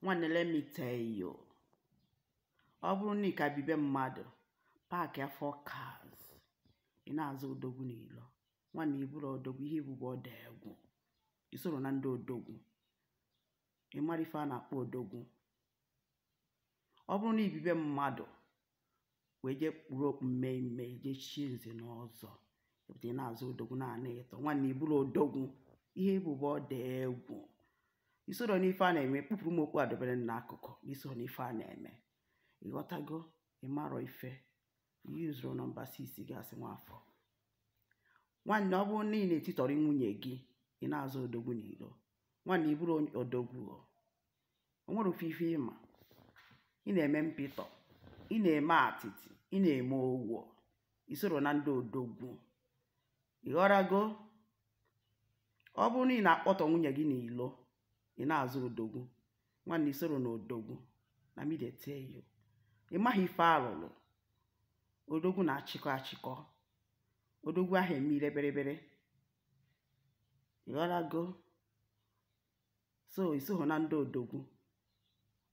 nwanne let me tell you ọ bụrụ na ị ka bi be mmadụ paakịa four cars ị na-aza odogwu n'ilo nwanne ị bụrọ odogwu ihe ị bụ bụ ọ dị egwu i sorọ na ndị odogwu ị marọ ife a na-akpọ odogwu ọ bụrụ na i bi be mmadụ wee jee kpuru okpu mmee mmee jee chie nze na ọzọ ị na-aza odogwu na-ana ịtọ nwanne ị bụrọ odogwu ihe ị bụ bụ ọ dị egwu i sorọ n'ife a na-eme kpupụrụ m okpu a dobere n'akụkụ i sorọ n'ife a na-eme ịghọtago ị marọ ife use your number 6 gasị nwafọ nwanne ọ bụrụ na ị na-etitọrọ nwunye gị ị na-aza odogwu n'iro nwanne ị bụrọ odogwu o nwerọ ife ị ma ị na-eme mpịtọ ị na-eme atịtị ị na-eme owo i sorọ na ndị odogwu ịghọrago ọ bụrụ na ị na-akpọtọ nwunye gị n'ilo ị na-aza odogwu nwanne i sorọ na odogwu na me dey tell you ị maghị ife alụlụ odogwu na-achịkọ achịkọ odogwu aha eme ire berebere ịghọrago so isoghị na ndị odogwu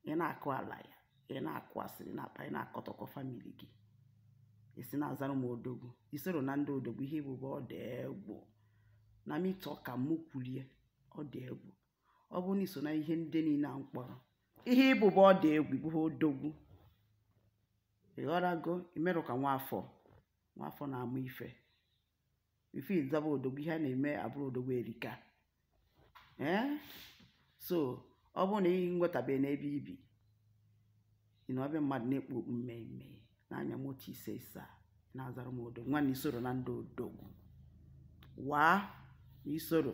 ị na-akụ ala ya ị na-akụ asịrị na-akpa ị na-akọtọkọ famili gị i si na-azara m odogwu i sorọ na ndị odogwu ihe ị bụ bụ ọ dị egwu na me talk am mụ kwulu ya ọ dị egwu ọ bụrụ na i so na ihe ndị niile a m kpọrọ ihe ị bụ bụ ọ dị egwu ị bụghị odogwu ịghọrago i merọ ka nwaafọ nwaafọ na-ama ife ife ịzaba odogwu ihe a na-eme a bụrụ odogwu erika ee so ọ bụrụ na ị nwetabeghị ebe i bi ị nọ be mmadụ na-ekpu okpu mmee mmee na-anya moto ise ise a na-azara m odogwu nwanne i sorọ na ndị odogwu waa i sorọ